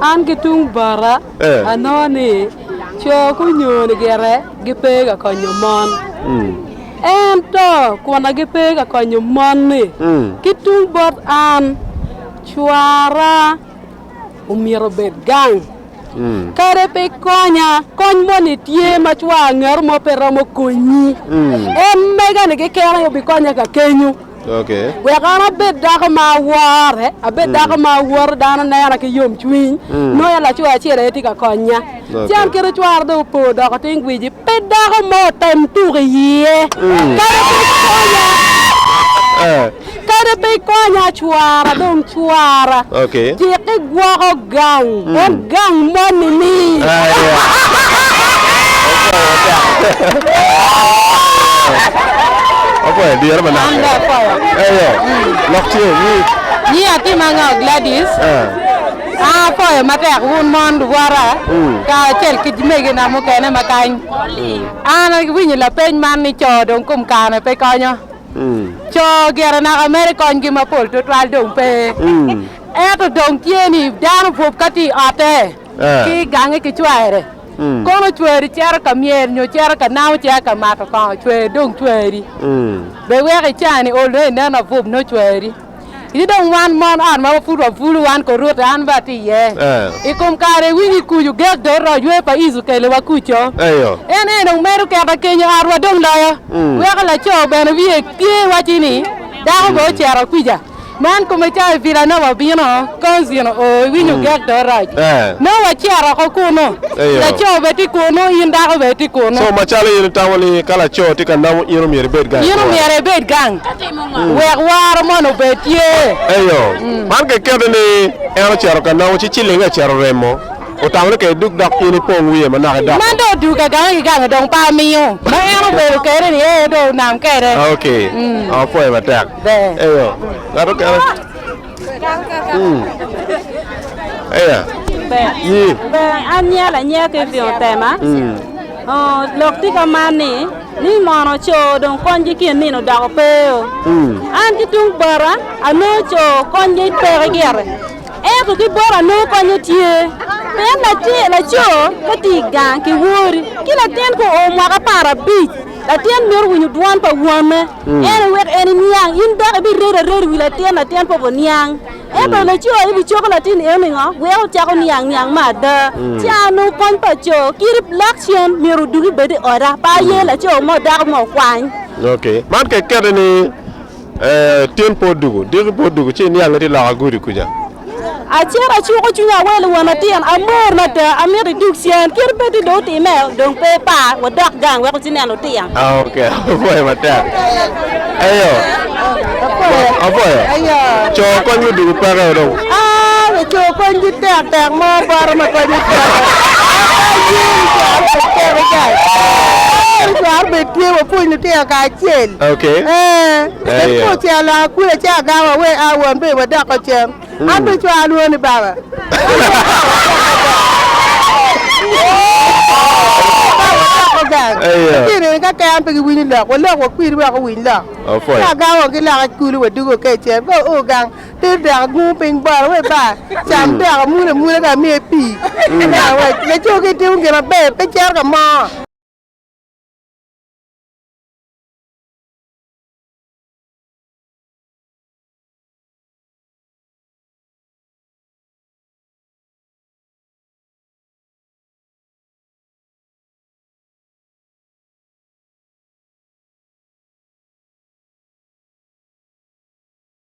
An ki tung bota, anongo ni co gunyoni gire gipe ka konyo mon. Ento kuna gipe ka konyo mon-ni, ki tung bot an, cwara omyero obed gang. Kadi pe konya, kony moni tye ma cwar angeto mo pe romo konyi. En mega-ni keken aye obikonya ka kenyo. wek an abed dako ma awore, abed dako ma awoto, dano nena ki yomcwiny, nongo en laco acel aye tye ka konya. Ci an kite cwara dong opo odoko tin gwici, pe dako mo otem tuko i iye. Kadi pe ikonya, kadi pe ikonya cwara dong cwara, jiki gwoko. Gang, en gang moni ni. Apoya dyere manok. An be apoya. Eyo. Lok tye ni. Nyi atim anga Gladys. Eh. An apoyo matek wun mon lugwara mm. ka acel ki megina mukene ma kany. Mm. An awinyo lapeny man ni co dong kom kane pe konyo. Mm. Co gire naka mere konygi mapol tutwal dong pe. Mm. Ento dong tye ni dano bwub ka tye i otte ki i gange ki cware, kono cwari cito ka myel nyo cito ka namo ci aa ka mato kongo, cwari dong cwari. Bed wek ican ni olone inen abwub nongo cwari. Ci dong wan mon ot ma pud wabulu, wan Koruta, an bene atye iye, i kom kare iwinyo i kuc ogek dot roc wer pa Ic okelewa kuco. En eni dong medo keta kenyo otwa dong loyo, weko laco bene wiye tye waci ni dako bene ocito kwica. Man kome ca i vila na wabino Konzino oo iwinyo mm. gek do rac. Eh. No wacero oko kuno. Laco be ti kuno, in dako be ti kuno. So macalo in itamo ni ka laco ti ka namo in omyero ibed gang. In omyero ibed gang. Mm. Wek waro mon obed tye. Eyo. Mm. Man ke kedo ni en ocero ka namo ci cilinge ocero remo. Otamo ni ke duk dok in ipong wiye manok idok. Man do duka gang i gang dong pa miyo. Ma en obedo kere ni ee do nam kere. Okay. Mm. Apoyo matek. Eya, ngat okene. Eya. Yi. An nya lanya ki vio tema. Lok ti ka man ni, ni mono co dong konygi ki enino dok opeo. An ki tung bota anongo co konygi peke gire. Ento ki bota anongo konye tye. Pien laco ka ti i gang ki wori ki latin ka oo mwaka apar abic, Latin myero owinyo dwan pa wonne, ene wek en eniang. In dok ibiredo areda i wi latin, latin pe obiniang. Ento laco ebicobo latin eno ningo? Wek ocako niang niang me ada. Cano kony pa co. Kit lak cen, myero odugi bed i oda, pe aye laco mo dako mo okwany. Man kekeni ni Tin po dugu, diki po dugu, ci iniang iti loka gudi kuca. Acito acuko cwiny awelo won atin, amor mada, amito idug cen. Kit pe ti dong otime, dong pe ipar, wadok gang wek wuti neno litino. Ah, ok, apoyo matek. Eyo, apoyo. Co kony me dugu peke dong. Laco kony ki tek tek mo poto ma kadi ocito cware bene tye wa pwony lutino kacel kadi ocito akula ci agamo awe a won be wadoko cen an bene cware alwongo ni baba lutino eni ka keken pe giwinyo lok walok wakwir wek owiny lok ci agamo wa ki loka i kulu wadwogo kacel ka oo gang. Ter dek agungu piny bot awe ba cam dek amule amule ka amiye pii laco ki timo gin maber pe cito ka mo.